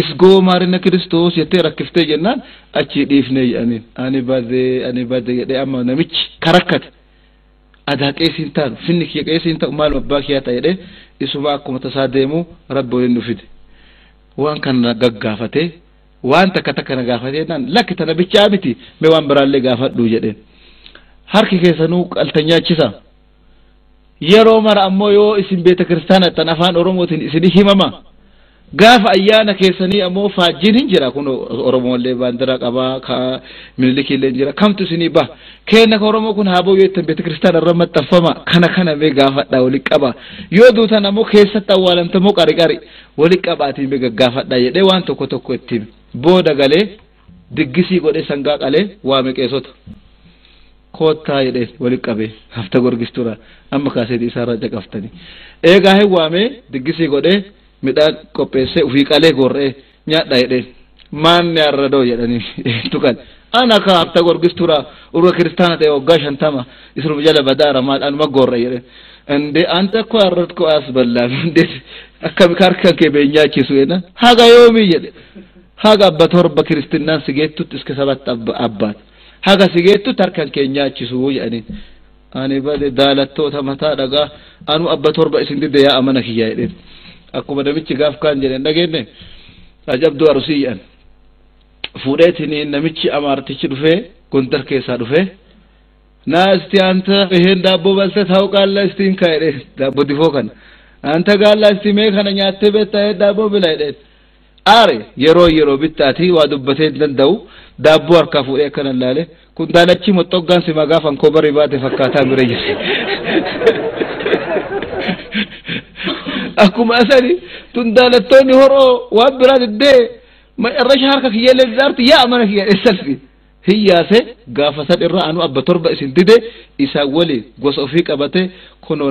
Isgoo maarina kiristoos jettee rakkiftee jennaan achii dhiifnee jedhaniin. Ani bade ani bade jedhee amma namichi ka rakkate adaa qeesii hin taanu finni kiyya qeesii hin ta'u maaluma abbaa kiyyaa ta'a jedhee isumaa akkuma tasaa deemuu rabbi waliin nu fide. Waan kana na gaggaafatee waan takka takka na gaafatee jennaan lakki tana bichaa miti mee waan biraallee gaafadhu jedheen. Harki keessanuu qaltanyaachisaa? yeroo mara ammoo yoo isin beeta kiristaana ta'an afaan oromootiin isin himama gaafa ayyaana keessanii ammoo faajjiin hin jira kun oromollee baandira qabaa ka minilikiillee hin jira kamtu isinii ba keenna ka oromoo kun haaboo yoo ittiin beeta kiristaana irra maxxanfama kana kana mee gaafadha wali qaba yoo duutan ammoo keessatti awwaalamta moo qari qari wali qabaatii mee gaggaafadha jedhee waan tokko tokko ittiin booda galee Diggisii godhee sangaa qalee waame qeesota. Koottaa jedheen walitti qabee hafta gorgistuuraa amma kaaseetii isaarraa caqaftani. Eegaa hin waamee diggisii godhee midhaan qopheessee ufii qalee goorra'ee nyaadhaa jedheen. Maanni arradoo jedhanii eentu qale. Ana kaa hafta gorgistuuraa urga kiristaana ta'ee waggaa shantama isinuma jala badaara maal anuma goorra'e jedheen. Indee anta akkoo arrat koo as ballaa hundee akkami kaarkan kee beenyaachisu jedheen. Haga yoomii jedhe. Haga abba torba kiristinnaan si geettutti iska sabatta abba abbaat haga si geettutti harkan kee hin nyaachisuu jedhaniin ani bade daalattoota mataa dhagaa anuu abba torba isin didde yaa amana kiyyaa jedheen akkuma namichi gaaf kaan jedheen dhageenne ajabduu arusii jedhan fuudheetiniin namichi amaartichi dhufee gondar keessaa dhufee naa isti anta iheen daabboo balte taa'u qaallaa isti hin kaa'edheen daabboo difoo kana anta gaallaa isti mee kana nyaattee beektaa daabboo bila jedheen aare yeroo yeroo bittaati waa dubbatee hin danda'u daabboo harkaa fuudhee akkana ilaale kun daalachi moxxoggaan simaa gaafa ankoobarri baate fakkaataa bira jira akkuma asani tun daalattoonni horoo waan biraa diddee irrasha harka kiyya illee didaartu yaa mana kiyya dheessalfi hin yaase gaafa san irra anu abba torba isin dide isaan waliin gosa ofii qabate kunoo